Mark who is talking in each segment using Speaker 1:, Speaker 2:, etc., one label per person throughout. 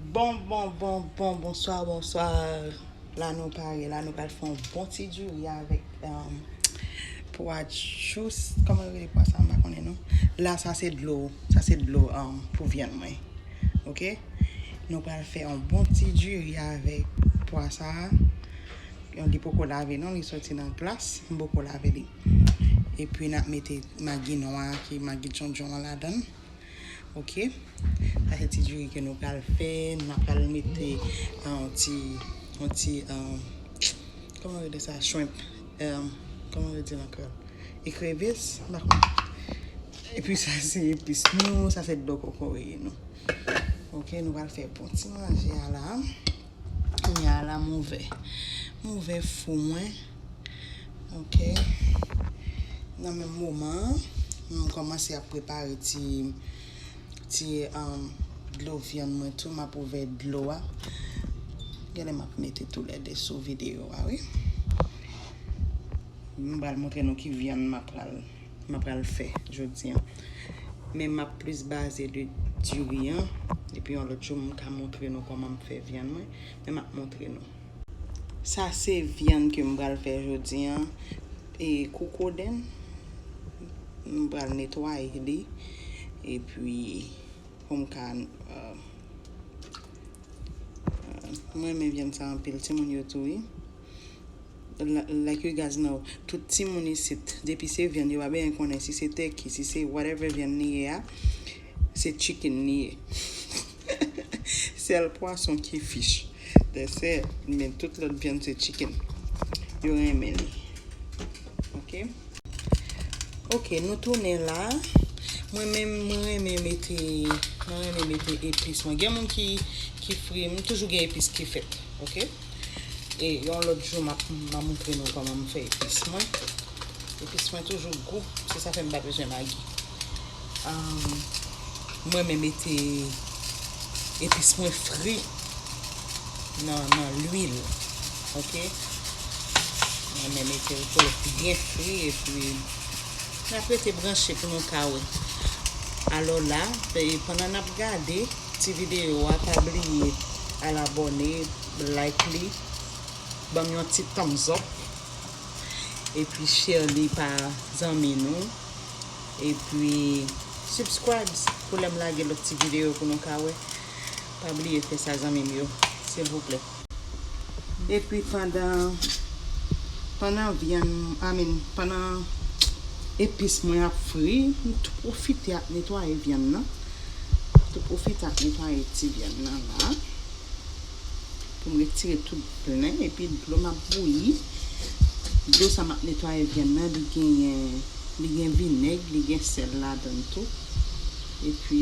Speaker 1: Bon bon bon bon bonswa bonswa la nou pare la nou pral fè yon bon ti diri avèk pwa djous kòman yo rele pwa sa m pa konnen non la sa se dlo sa se dlo pou vyann mwen ok nou pral fè yon bon ti diri avèk pwa sa a li poko lave non li soti nan glas m poko lave li Epi nap mete magi nwa ki magi djondjon an ladann ok sa se ti diri ke nou pral fè nap pral mete yon ti yon ti kòman rele sa shrimp kòman yo dil ankò ekrevis mpa konn epi sa se epis nou sa se dlo kokoye nou ok nou pral fè bon ti manje a la. Kounya la m ouvè. M ouvè fou mwen. Ok. Nan menm moman an, m kòmanse ap prepare ti ti dlo vyann mwen tou. M ap ouvè dlo a. Genlè m ap mete tou lè 2 sou videyo a wi. M pral montre nou ki vyann m ap pral. m apral fè jodi an. Men m ap plis baze de diri an. Epi yon lòt jou m ka montre nou kòman m fè vyann mwen. Men m ap montre nou. Sa se vyann ke m pral fè jodi an. E kokoden. M pral netwaye li. Epi pou m ka. M renmen vyann sa anpil. Timoun yo tou wi. Like you guys know tout timoun isit depi se vyann yo pa benyen konnen si se turkey si se whatever vyann li ye a se chicken li ye sèl pwason ki fish that's it men tout lòt vyann se chicken yo renmen li ok ok nou tounen la mwen menm mwen renmen mete mwen renmen mete epis mwen gen moun ki fri m toujou gen epis ki fèt ok. E yon lòt jou map ma moutre nou kòman m fè epis mwen. Epis mwen toujou gou, se sa fè m pa bezwen magi. M renmen mete epis mwen fri nan lwil. Ok. M renmen mete l pou l byen fri e pi nap rete branche pou nou ka wè. Alò la, pandan nap gade. ti video a pa bliye al abòne like li banm yon ti thumbs up epi share li pa zanmi nou epi subscribes pou lèm lage lòt ti video pou nou ka wè pa bliye fè sa zanmim yo silvouplè. Epi pandan pandan vyann I mean pandan epis mwen ap fri m tou pwofite ap netwaye vyann nan m tou pwofite ap netwaye ti vyann nan la pou m retire tout plen epi dlo m ap bouyi dlo sa m ap netwaye vyann nan li genyen li gen vinèg li gen sèl ladan l tou epi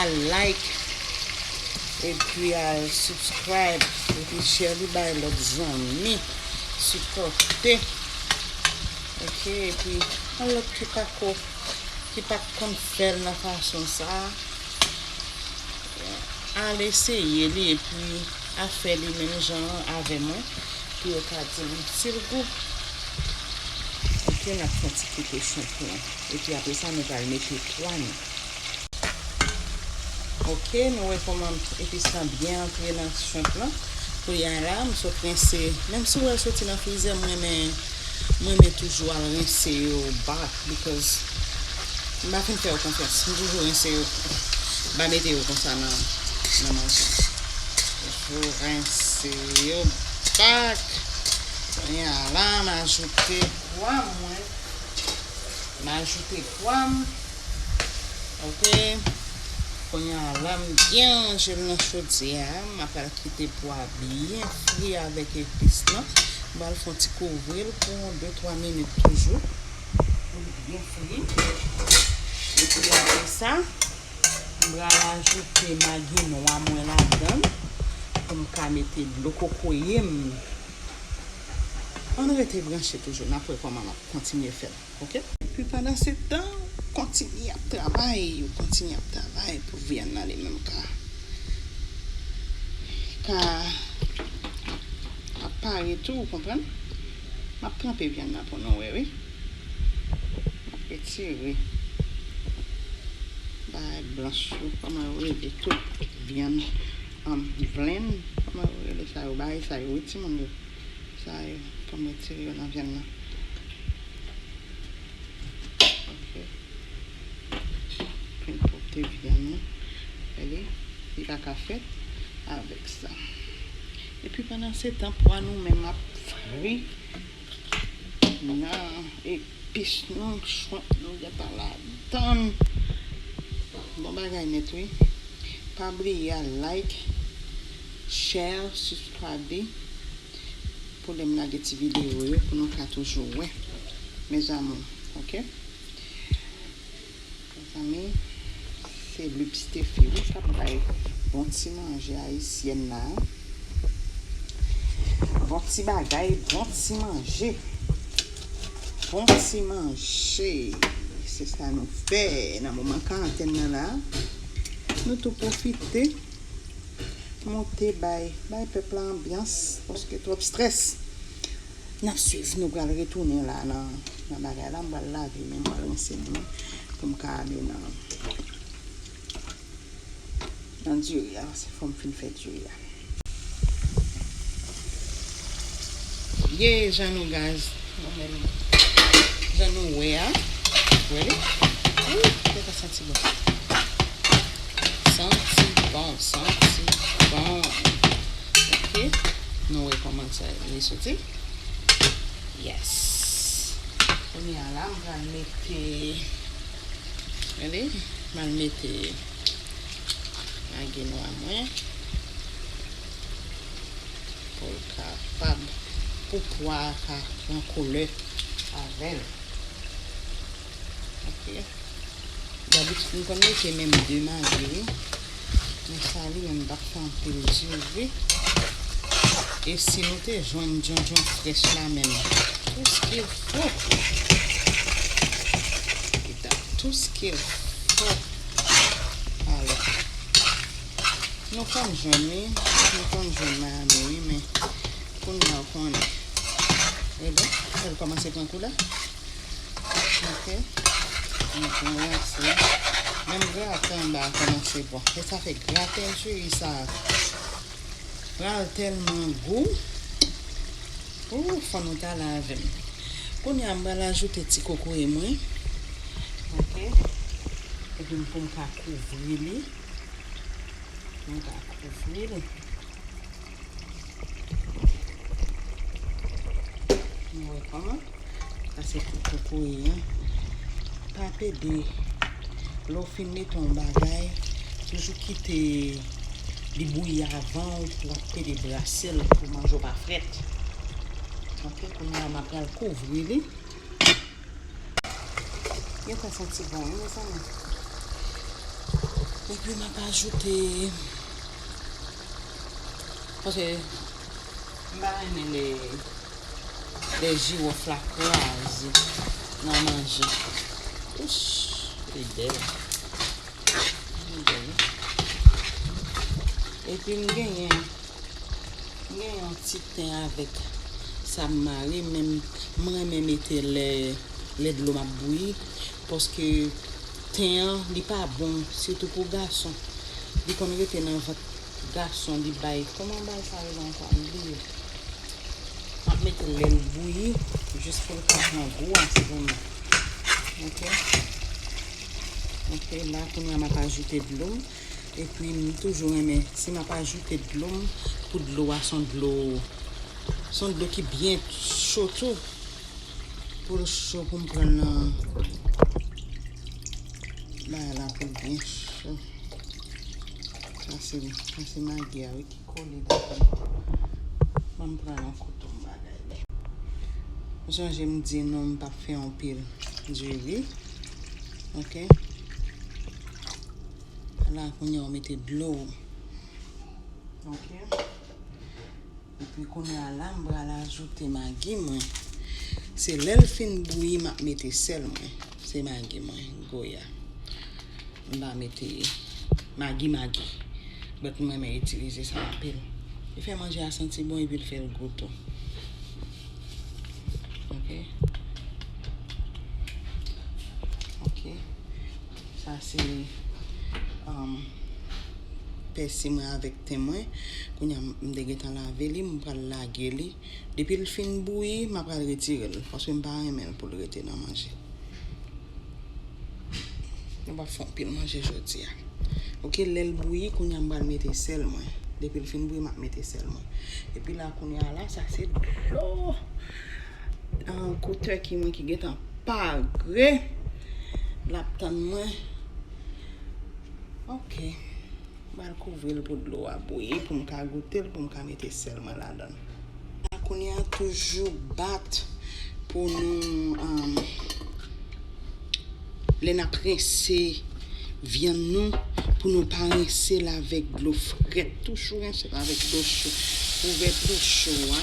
Speaker 1: Al like epi al subscribe epi share li bay lòt zanmi sipòte ok epi yon lòt ki pako ki pat konn fèl nan fason sa al eseye li epi a fè li menm jan avè mwen pou yo ka dim sil gou ok nap fon ti koute chanpyon epi apresa nou pral mete pwa nou. Ok nou wè kòman epis lan byen antre nan shrimp lan kounye a la m sot rense menm si wè l soti nan frizè m renmen m renmen toujou al rense yo back because m pa fin fè yo konfyans m toujou rense yo m pa mete yo konsa nan nan manje toujou rense yo back kounye a la m ajoute pwa mwen m ajoute. pwam ok kounya lam byen ranjel nan chodyè a ma pral kite pwa byen fri avèk epis lan bal fon ti kouvril pou yon 2 3 minit toujou poul byen fri epi apresa m pral ajoute magi nwa mwen ladann poum ka mete dlo kokoyem ann rete branche toujou nap wè kòman lap kontinye fèt. ok. Epi pandansetan ou kontinye ap travay ou kontinye ap travay pou vyann nan li menm ka ka ap pare tou ou konprann map tranpe vyann nan pou nou wè wi map retire bagay blanch yo kòman yo rele tou vyann an blenn kòman yo rele sa yo bagay sa yo wi timoun yo. Sa yo pou m retire yo nan vyann nan. Ok. Pou n pwòpte vyann nan. Wè li? Li pa ka fèt avèk sa. Epi pandansetan pwa nou menm ap fri nan epis nou, shrimp nou gentan ladan l. Bon bagay nèt wi. Pa bliye al like. Share subscribe pou lèm lage ti video yo pou nou ka toujou wè mes amour ok mezanmi se lubstephie wi kap bay bon ti manje ayisyèn la bon ti bagay bon ti manje bon ti manje se sa nou fè nan moman karantèn nan la nou tou pwofite Monte bay bay pèp la anbyans paske twòp strès nap swiv nou pral retounen la nan bagay la m pral lave men m pral rense men m pou m ka ale nan nan diri a paske fòm fin fè diri a. Ye jan nou gaz nou menm jan nou wè a ready ooh gade sa santi bon santi bon santi bon ok nou wè kòman sa li soti yes kounye a la m pral mete ready m al mete magi nwa mwen. Pou l kapab. Pou pwa a ka pran koulè avè l. Ok. Dabitid m konn mete menm 2 magi wi. Men sa li menm m pa t fè anpil diri. E si nou te jwenn djondjon frèch la menm. Tou s ke l fo. Li ta tou s ke l fo. Alò. Nou konn jwenn li, nou konn jwenn Miami wi men kounya ou konnen. E bon, sa l kòmanse pran koulè. Ok. Nou pran rense. Menm graten anba a kòmanse bon. E sa fè graten cheri sa pral tèlman gou. Ou, fò nou ta la avè m. Kounya m pral ajoute ti kokoye mwen. Ok. Epi m pou m ka kouvri li. Nou ka kouvri l. Nou wè kòman? Sa se pou kokoye an. Pa pede. Lè w fin mete yon bagay, toujou kite li bouyi avan w ap pede brase l pou manje w pa frèt. Ok, kounye a m apral kouvri li. Yo fè santi bon wi mezanmi. Epi m ap ajoute paske m pa renmen lè lè jiwof la kraze nan manje. Ouch li bèl. Li bèl wi. Epi m genyen m genyen yon ti Ten avek sa m mare menm m renmen mete lè dlom ap bouyi paske ten an li pa bon sitou pou gason li konn rete nan vant gason li bay koman bal sa rele ankò m bliye map metel lèl bouyi jis poul ka pran gou a ti zanmi ok ok la kounya map ajoute dlom Epi m toujou renmen si map ajoute dlo m pou dlo a son dlo son dlo ki byen cho tou poul cho poum pranl nan bagay la poul byen cho sa se sa se magi a wi ki kole banm pran yon kouto m bagay li m sonje m di nou m pap fè anpil diri. Ok. La kounye ou mete dlo. Ok. E pi kounye a la mbra la ajoute magi mwen. Se lèl fin bouyi map mete sèl mwen. Se magi mwen. Goya. Mba mete magi magi. Bèt mwen men itilize sa anpil. Li fè manje a santi bon e pi l fèl gou tou. Ok Ok Sa se um, pèsi mwen avèk ten mwen Kounye a m te gentan lave li M pral lage li Depi l fin bouyi m apral retire l Paske m pa renmen l pou l rete nan manje Nou pap fè anpil manje jodia. Ok lèl bouyi kounya m pral mete sèl mwen. Depil fin bouyi map mete sèl mwen. Epi la kounya la sa se dlo kou turkey mwen ki gentan pare lap tann mwen. Ok. Mal kouvri l pou dlo a bouyi pou m ka goute l pou m ka mete sèl mwen ladan l. Ala kounye a toujou bat pou nou lè n ap rense vyann nou pou nou pa rense l avèk dlo frèt toujou rense l avèk dlo cho kouvèti cho a.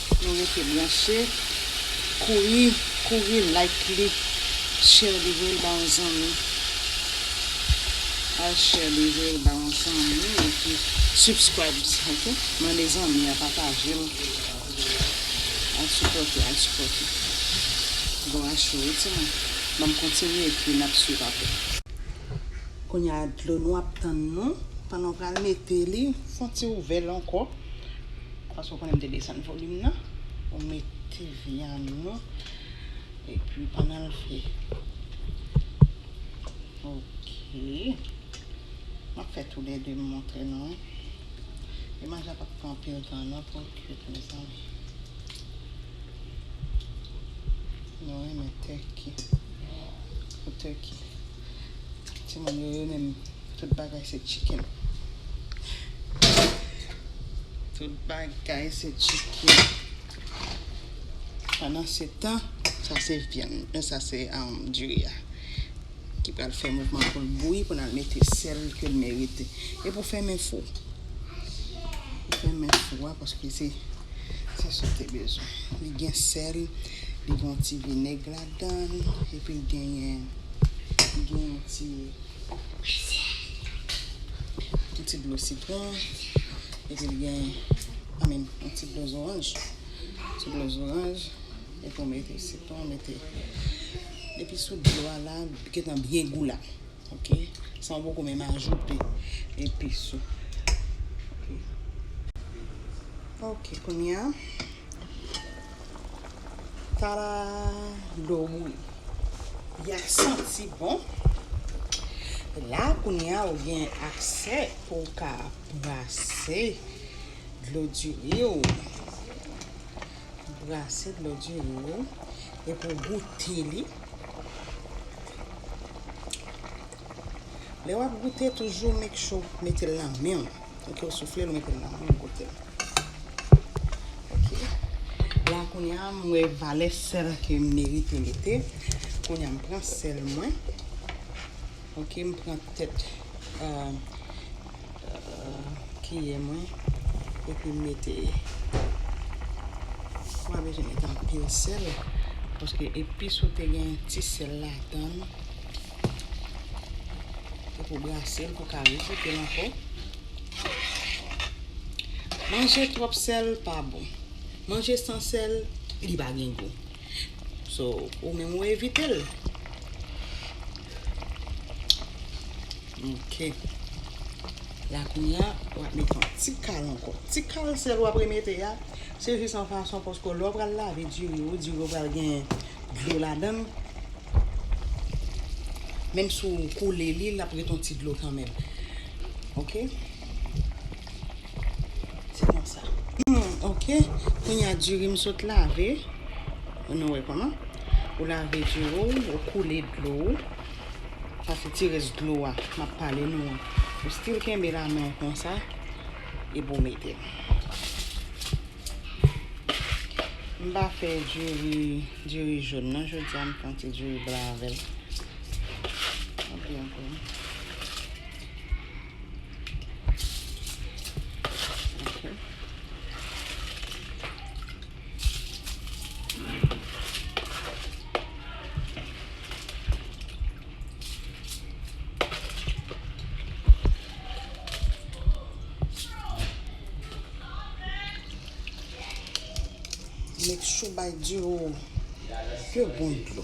Speaker 1: Nou rete branche kouri kouri like li share li voyel ba yon zanmi al share li voyel ba yon zanmi epi subscribes ok mande zanmi a patajel al sipòte al sipòte bò a cho wi timoun banm kontinye epi nap swiv aprè. Kounya dlo nou ap tann nou pandan w pral mete li fon ti ouvè l ankò Paske ou konnen m te desann volim nan. Ou mete vyann ou. E pi pandan l fri. Ok. M ap fè tou lè de m montre nou. E manje a pa p pran anpil tan non pou l kuit mezanmi. Nou renmen tèki. Pou tèki. Ti moun yo yo menm tout bagay se chicken. Tout bagay se chicken. Pandan se tan, sa se vyann. Men sa se diri a. Ki pral fè mouvman pou l bouyi pou nan mete sèl ke l merite. E pou fè men fou. Pou fè men fou a paske se se sou te bezwen. Li gen sèl, li gen yon ti vinèg la. Ladann epi genyen gen yon ti yon ti dlo sitron epi li gen I mean yon ti dlo zoranj ti dlo zoranj epi w mete sitron w mete epi sou dlo a la li gentan byen gou la. ok sa ou poko menm ajoute epis ou ok kounya tada dlo ou bouyi ya santi bon la kounya ou gen aksè pou ou ka brase dlo diri ou brase dlo diri ou epou goute li Lè wap goute toujou make sure ou metel nan menw. Ok ou souflel ou metel nan menw goutel. Ok. La kounya m wè valè sèl ke m merite mete. Kounya m pran sèl mwen. Ok m pran tèt euh kiyè mwen epi m mete mpa bezwen mete anpil sèl paske epis ou te gen ti sèl ladan l epi w brase l pou w ka refoute l ankò manje twòp sèl pa bon manje san sèl li pa gen gou So, ou menm ou evite l. Ok. La kounya, w ap mete yon ti kal ankò. Ti kal sèl w ap remete a, se jis an fason paske lè w pral lave diri ou, diri ou pral gen dlo ladan l. Menm si w koule li, l ap ret yon ti dlo kanmenm. Ok. Se konsa. Ok. Kounye a diri m sot lave. Ou nou wè kouman. Ou lave diri ou. Ou koule dlo ou. Sa se ti res dlo a. M ap pale nou an. Ou stil kenbe la men ou konsa. E pou mete. M pa fè diri. Diri joun nan. Jou di a m fon ti diri blan avèl. Ou byen kou. Make sure bay diw yo bon dlo.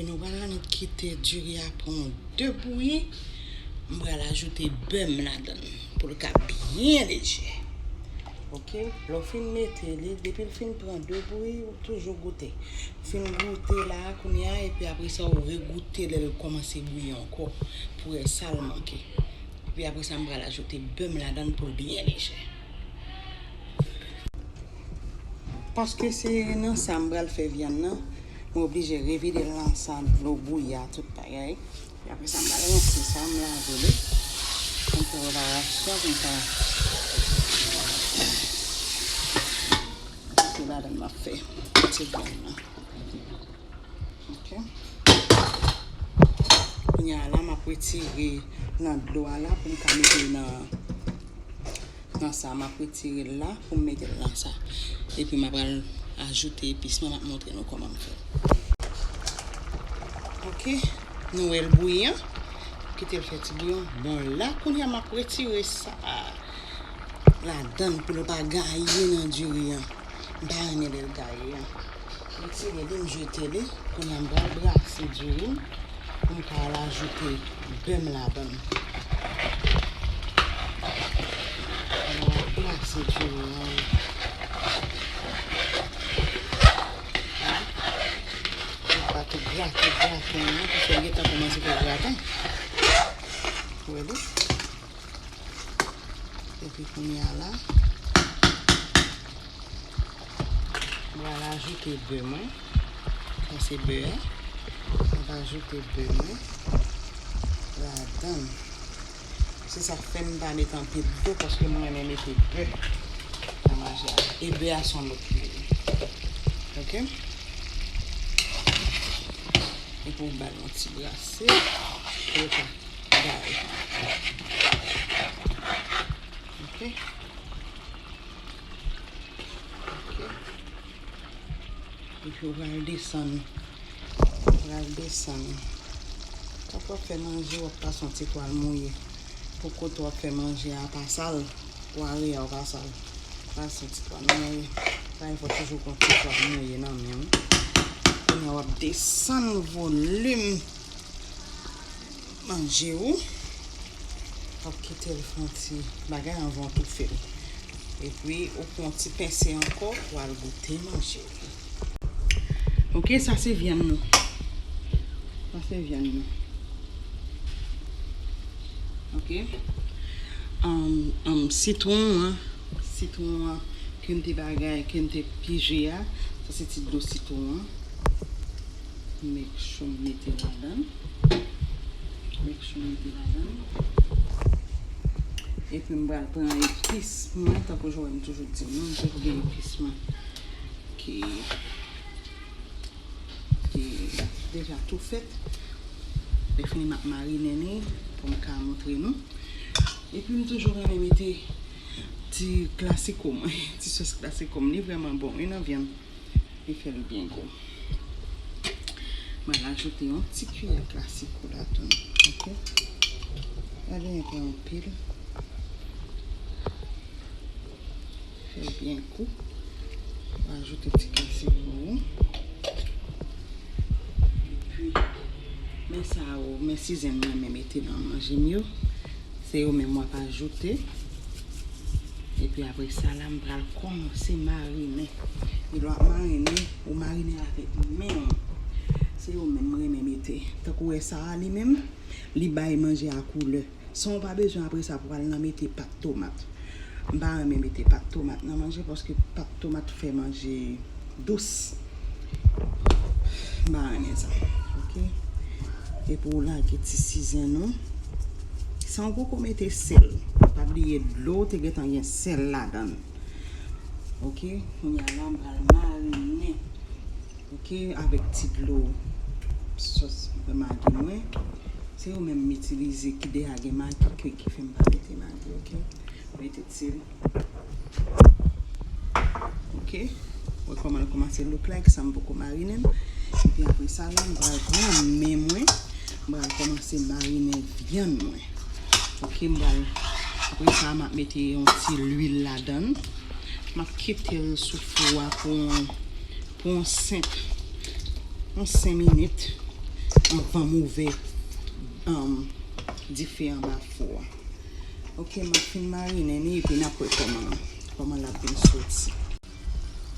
Speaker 1: Epi nou pral annik kite diri a pran yon 2 bouyi, m pral ajoute bè m ladann pou l ka byen leje. Ok, lè w fin mete li, depi l fin pran 2 bouyi, ou toujou goute. Fin goute la, kounye a, epi apre sa ou regoute lè l kòmanse bouyi ankò pou wè sa l manke. Epi apre sa m pral ajoute bè m ladann pou l byen leje. Paske se nan sa m pral fè vyann nan, mwen oblije revide l nan sa dlo bouyi a tout bagay. E apre sa m pral rense sa, m lave li. Pou m fè reparasyon pou m ka mete ladan m ap fè ti vyann nan. Ok. Kounya la m ap retire nan dlo a la pou m ka mete nan. Nan sa map retire l la pou m mete l nan sa. Epi ma pral ajoute epis mwen map montre nou kòman m fèl. Ok nou wèl bouyi an kitel fè ti bouyon bon la kounya map retire sa ladann pou nou pa gaye nan diri an. M pa renmen lè l gaye an. M tire li, m jete li. Kounye a m pral brase diri m pou m ka al ajoute bè m ladan l. M ap brase diri m an. M pa tou brase graten an paske m gentan kòmanse fè graten. Ou wè li? Epi kounye a la, m pral ajoute bè mwen. Sa se bè a. M va ajoute bè mwen ladan l. Se sa k fè m pa met anpil bè paske m renmen mete bè nan manje a. E bè a son lòt lwil. Ok? Epi w ba l yon ti brase. bagay. Ok. Ok. Epi ou pral desann. Ou pral desann. Kòk wap fè manje wap pa son ti twal mouye. Pou kote wap fè manje a pa sal. Pou are a ou pa sal. Pa son ti twal mouye. Pa yon fòk toujou kon ti twal mouye nan men ou. Kounye a wap desann volim. Manje ou. Wap kitel fè yon ti bagay anvan ou toufel. Epi ou pran yon ti pense ankò pou al goute manje ou. Ok sa se vyann nou. Sa se vyann nou. Ok. Anm sitwon an. Sitwon an kem te bagay kem te pije a. Sa se ti dlo sitwon an. Make sure m mete l ladan. Make sure m mete l ladan. Epi m pral pran epis mwen. Tankou jan m toujou di nou, m toujou gen epis mwen ki deja tou fèt. Lèfini m ap marinen li pou m ka montre nou. Epi m toujou renmen mete ti klasiko mwen. Ti sòs klasiko m. Li vrèman bon wi nan vyann. Li fè li byen gou. Mwen ajoute yon ti kiyè glase kou la tou. Ok. Sa byen epè anpil. Fè li byen gou. Mwen ajoute ti glase pou ou. Epi, men sa ou, men si zen mwen mwen mete nan manje m yo. Se yo menm wap ajoute. Epi apre sa la m pral kòmanse marinen. E lè wap marinen, ou marinen avèk men w. Se yo menm m renmen mete. Tankou wè sa a li menm, li bay manje a koulè. San w pa bezwen apre sa pou w al nan mete pat tomat. M pa renmen mete pat tomat nan manje paske pat tomat fè manje dous. M pa renmen sa. Ok. Epi w lage ti sizen ou. San w poko mete sèl. Pa bliye dlo te gen tan gen sèl ladan. Ok. Kounya la m pral marinen. Ok. Avèk ti dlo sòs magi mwen. Se yo menm m itilize ki deja gen magi ke ki fè m pa mete magi. Ok mete til Ok wè kòman l kòmanse look like sa m poko marinen l epi apre sa la m pral pran men mwen m pral kòmanse marinen vyann mwen ok m pral apre sa m ap mete yon ti luil ladan l m ap kite l sou fou a pou pou yon 5 yon 5 minit anvan m ouvè dife anba fou a. Ok map fin marinen li epi nap wè kòman kòman lap vin soti.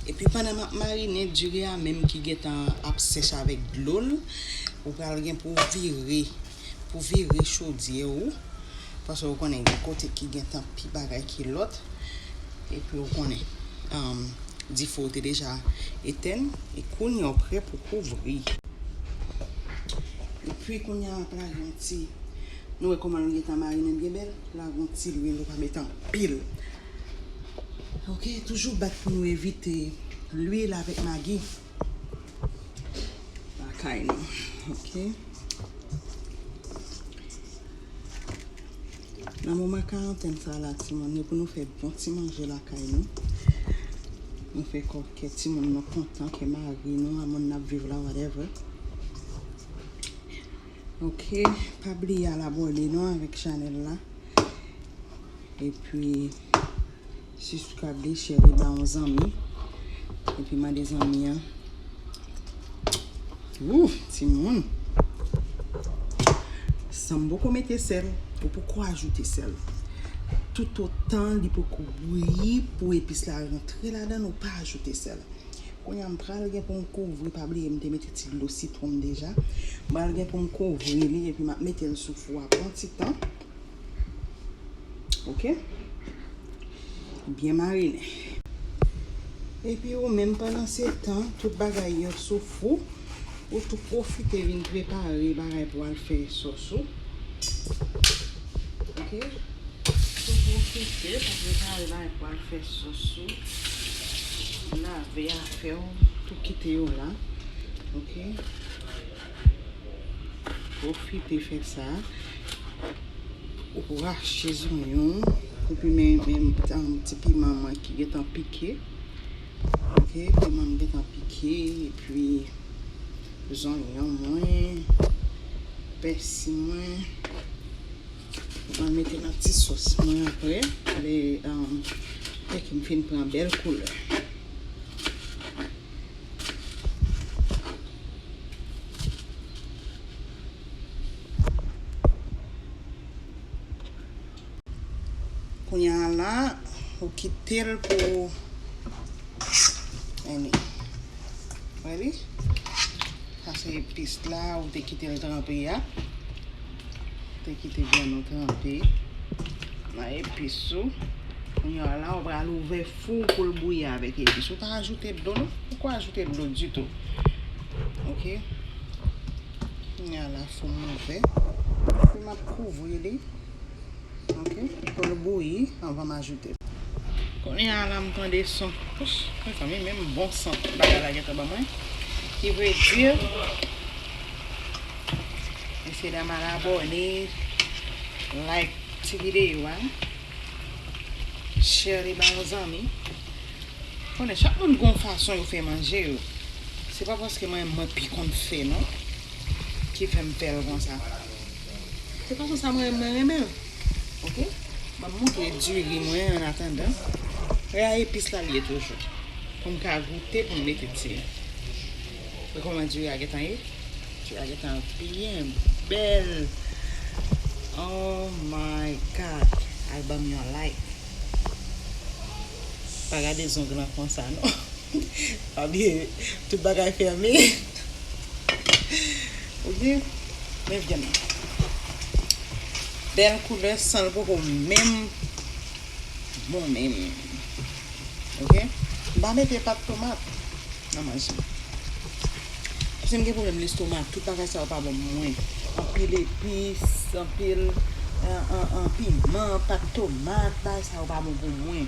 Speaker 1: Epi pandan map marinen diri a menm ki gentan ap sèch avèk dlol ou pral gen pou vire pou vire chodyè ou paske ou konnen gen kote ki gentan pi bagay ke lòt epi ou konnen um dife ou te deja etèn e kounya ou prè pou kouvri epi kounya wap lage yon ti Nou wè komanl gentan marinen byen bèl la gon ti lwil ou pa met anpil ok toujou bat pou nou evite lwil avèk magi lakay nou ok nan moman karantèn sa la timoun yo pou nou fè bon ti manje lakay nou nou fè kò kè timoun nou kontan kè mari nou a moun nap viv la whatever. Ok pa bliye al abone non avèk chanèl la epi suscribe li share li ba yon zanmi epi mande zanmi an ooh timoun san poko mete sèl ou poko ajoute sèl tout otan li poko bouyi pou epis la rantre ladann ou pa ajoute sèl Kounya m pral gen pou m kouvri pa bliye m te mete ti dlo sitwon m deja m pral gen pou m kouvri li epi m ap mete l sou fou a pou yon ti tan ok byen marinen epi ou menm pandan se tan tout bagay yo sou fou. Ou tou profite vin prepare bagay pou al fè sòs ou ok tou profite pou prepare bagay pou al fè sòs ou lave afèw tou kite yo la ok profite fè sa ou rache zonyon ou pi men ti piman mwen ki gentan pike. Ok piment m gentan pike epi zonyon mwen, pèsi mwen. Mwen mete nan ti sòs mwen aprè lè tèk m fin pran bèl koulè. Kounya la ou kitel pou Any Ready Sa se epis la ou te kitel tranpe a Ou te kite vyann ou tranpe nan epis ou Kounya la ou pral ouvè fou ou poul bouyi avèk epis ou pa ajoute dlo non poko ajoute dlo ditou ok Kounya la fou m ouvè epi map kouvri li. Ok pou l bouyi anvan m ajoute. Kounye a la m tande son pouch mezanmi menm bon sant bagay la gentan ban mwen ki vle di mesye dam al abòne like ti videyo a share li ba yon zanmi konnen chak moun gon fason yo fè manje yo se pa paske mwen mwen pi konn fè non ki fè m fè l konsa. Se fason sa mwen renmen l ok banm montre diri mwen an atandan e a epis la li ye toujou pou m ka goute pou m mete diri gade kòman diri a gentan ye diri a gentan byen bèl oh my god al banm yon like pa gade zong lan konsa non pa bliye tout bagay fèmen. Ou di, men vyann nan. Bèl koulè san l poko menm bon menm. Ok. M pa mete pat tomat nan manje m. Paske m gen pwoblèm lestomak. Tout bagay sa yo pa bon pou mwen. Anpil epis, anpil piman, pat tomat, bagay sa yo pa bon pou mwen.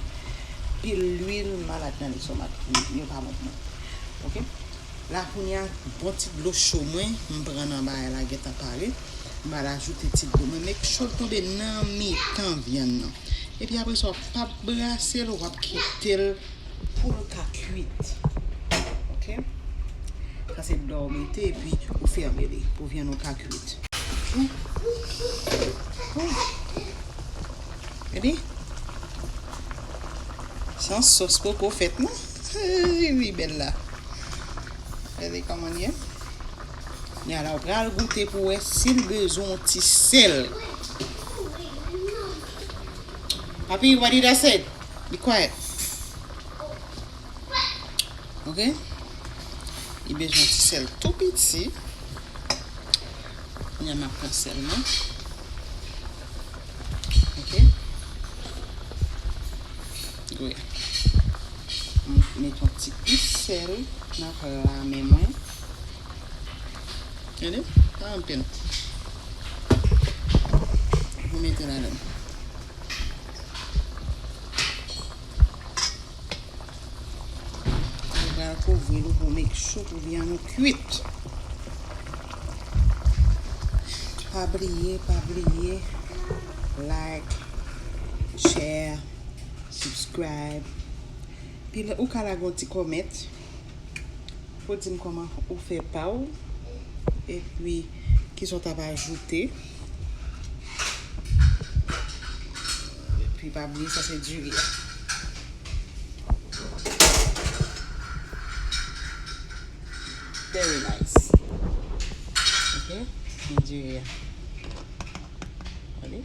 Speaker 1: Anpil lwil, m malad nan lestomak. Yo pa bon pou mwen. Ok. La kounya bon ti dlo cho mwen m pran nan bagay la gentan pare m pral ajoute ti dlo mwen make sure l tonbe nan mitan vyann nan epi apresa wap pa brase l wap kite l pou l ka kuit ok sa se dlo a ou mete epi ou fèmen li pou vyann ou ka kuit gade san sos poko fèt non. Ui ui bella Gade komanl ye Nya la ou pral goute pou wè sil bezwen yon ti sèl Papi what did I said Be quiet Ok Li bezwen yon ti sèl tou piti Nya map pran sèl mwen Ok Dwe. M met yon ti plis sèl nan pla men mwen. Gade, pa anpil. Pou mete ladan. Ou pral kouvri l pou make sure pou vyann ou kuit. Pa bliye, pa bliye like, share. Subscribe Pi lè ou ka lage yon ti comment pou w di m kòman ou fè pa w epi kisa w t ap ajoute Epi pa bliye sa se diri a Very nice Ok Diri a Gade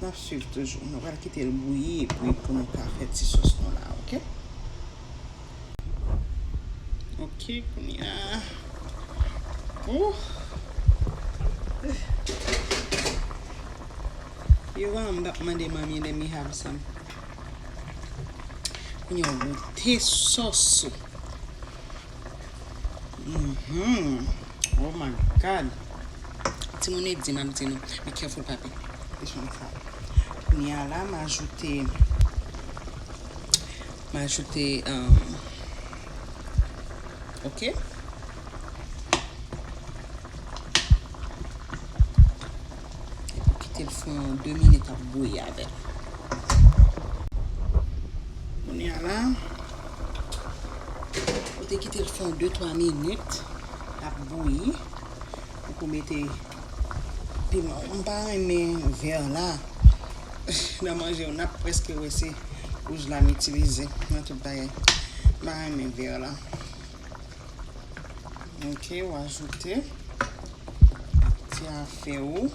Speaker 1: Nap swiv toujou. Nou pral kite l bouyi epi pou nou ka fè ti sòs nou la ok. Ok kounye a ooh. Yo an map mande manmi let me have some. Kounye a w goute sòs ou. Mhmm oh my God Timoun e di map di nou be careful papi This one is hot Kounye a la m ajoute m ajoute umm ok Ou kite l fon 2 minit ap bouyi avè l. Kounye a la, ou te kite l fon 2, 3 minit ap bouyi. Ou ko mete piman ou. M pa renmen vè la nan manje w. N ap prèske wè se wouj la m itilize nan tout bagay. M pa renmen vè la. Ok ou ajoute ti afe ou.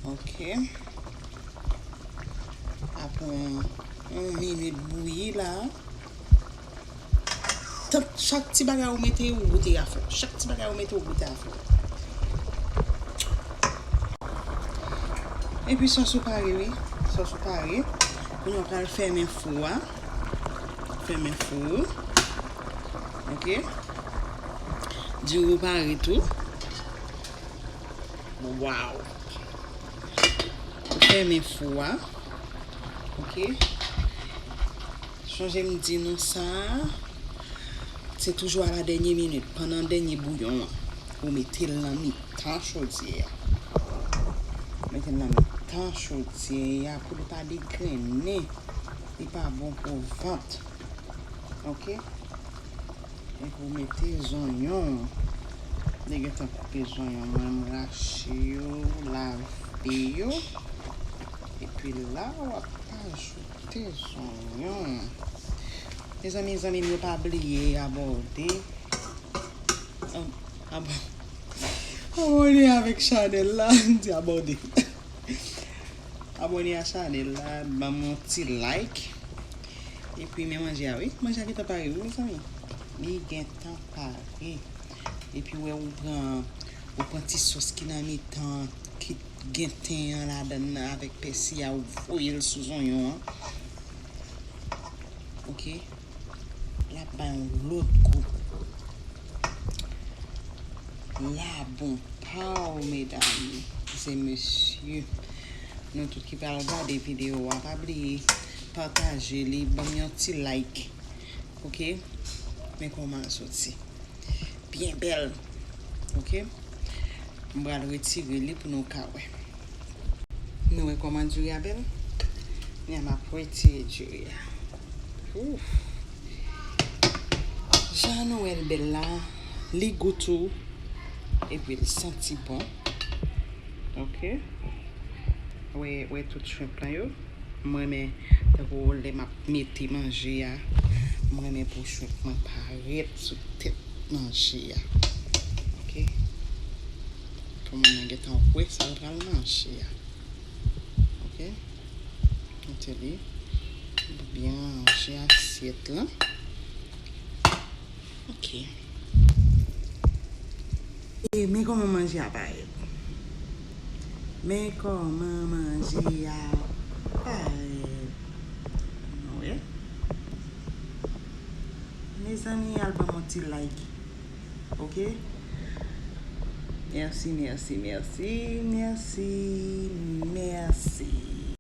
Speaker 1: Ok. Apre yon minit bouyi la. Chak ti bagay ou mete ou goute afe. Chak ti bagay ou mete ou goute afe. Epi sos ou pare wi. Sos ou pare. Kounya ou pral fèmen fou a. Fèmen fou ou. Ok. Diri ou pare tou. Waw. Fèmen fou a. Ok. Chanje m di nou sa. Se toujou a la dènye minit. Panan dènye bouyon an. Ou mete l nan mi tan chodye a. Mete l nan mi tan chodye a. Pou li pa degrennen. Li pa bon pou vant. Ok. Epi ou mete zonyon ou. Mwen gentan koupe zonyon mwen. M rache yo. Lave yo. Epi la ou ap ajoute zonyon ou. Mezanmi zanmi m yo pa bliye abòde. Abòde avèk chanèl la. M di abòde. Abone a chanel la banm yon ti like Epi men manje a wi manje a gentan pare wi mezanmi li gentan pare Epi wè ou pran ou pran ti sos ki nan mitan ki gen ten an ladan nan avèk pèsi a ou voyel sou zonyon an ok. Lap bay yon lòt gou. La bon paw medam e mesye. Nou tout ki pral gade video a pa bliye pataje li banm yon ti like ok men kòman l soti. byen bèl ok m pral retire li pou nou ka wè nou wè koman diri a bèl kounya m ap retire diri a ouff jan nou wèl bèl la li gou tou epi l santi bon ok wè tout shrimp lan yo m renmen tankou lè m ap Mete manje a. M renmen pou shrimp mwen parèt sou tèt manje a. Ok. Pou moun nan gentan wè sa l pral manje a. Ok. Mete li. Byen ranje asyèt lan. Ok. Men kòman manje a parèt. Men kòman manje a parèt. Nou wè. Mezanmi al banm yon ti like. Ok. Merci, merci, merci. Merci, merci.